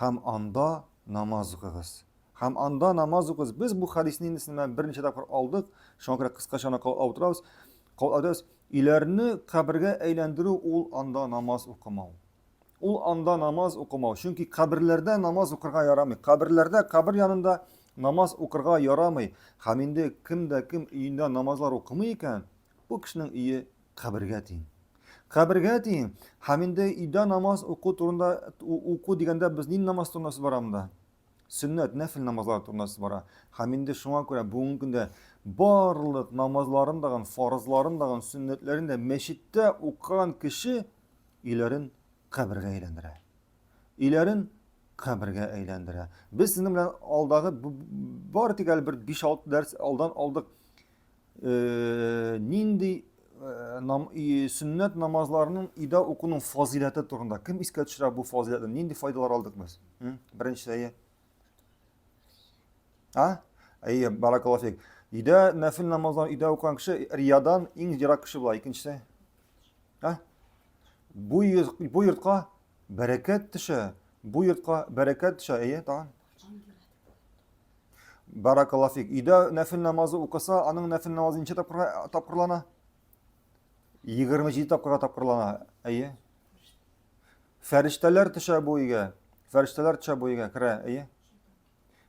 Һәм анда намаз укыгыз. Һәм анда намаз укыгыз. Без бу хадисне инде сезнең белән берничә тапкыр алдык. Шуңа күрә кыскача аны кабатлап утырабыз. Кабатлап Өйләрне кабергә әйләндерү ул анда намаз укымау. Ул анда намаз укымау. Чөнки каберләрдә намаз укырга ярамый. Каберләрдә, кабер янында намаз укырга ярамый. Һәм инде кем дә кем өендә намазлар укымый икән, бу кешенең өе Кабергә тиң. Кабергә тиң. Һәм инде өйдә намаз уку турында уку дигәндә без нинди намаз турында сүз бара монда? Сөннәт, нәфил намазлар турында сүз бара. Һәм инде шуңа күрә бүгенге көндә барлык намазларын дагын, фарызларын дагын, сөннәтләрен дә мәчеттә укыган кеше өйләрен кабергә әйләндерә. Өйләрен кабергә әйләндерә. Без сезнең белән алдагы бары тик әле бер 5-6 дәрс алдан алдык. Э, нинди э, нам, и, сөннәт намазларының ида укуның фазиләте турында кем искә төшерә бу фазиләтне нинди файдалар алдык без беренче әйе а әйе баракаллафик ида нәфил намазларын ида укыган кеше риядан иң ерак кеше була икенчесе а бу бу йортка бәрәкәт төшә бу йортка бәрәкәт төшә әйе тагын Баракалла фик. Өйдә нәфил намазы укыса, аның нәфил намазы ничә тапкырга тапкырлана? 27 тапкырга тапкырлана. Әйе. Фәрештәләр төшә бу өйгә. Фәрештәләр төшә бу өйгә, керә, әйе.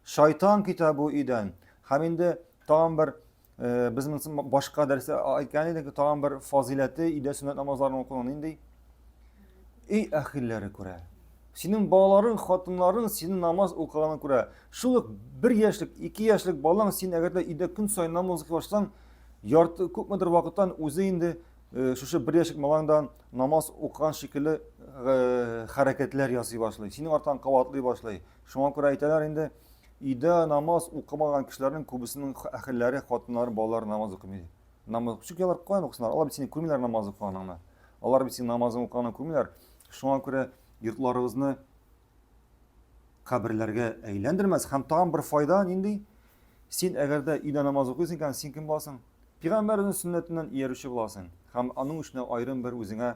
Шайтан китә бу өйдән. Һәм инде тагын бер Без монысын башка дәрестә әйткән идек, тагын бер фазиләте өйдә сөннәт намазларын укуның нинди? Өй әхилләре күрә. Синең балаларың, хатынларың синең намаз укыганын күрә. Шул ук бер яшьлек, ике яшьлек балаң син әгәр дә өйдә көн саен намаз укый башласаң, ярты күпмедер вакыттан үзе инде Э, шушы бер яшек малаңда намаз укыган шикелле э, хәрәкәтләр ясый башлый синең артан кабатлый башлый Шуңа күрә әйтәләр инде, өйдә намаз укымаган кешеләрнең күбесенең әхелләре, хатыннары, балалары намаз укымый. Намаз чөнки алар каян укысыннар? Алар бит сине күрмиләр намаз укыганыңны. Алар бит синең намазың укыганыңны күрмиләр. Шуңа күрә йортларыгызны каберләргә әйләндермәс һәм тагын бер файда нинди? Син әгәр дә өйдә намаз укыйсың икән, син кем буласың? Пигамбәрнең сөннәтеннән иярүче буласың һәм аның өчен аерым бер үзеңә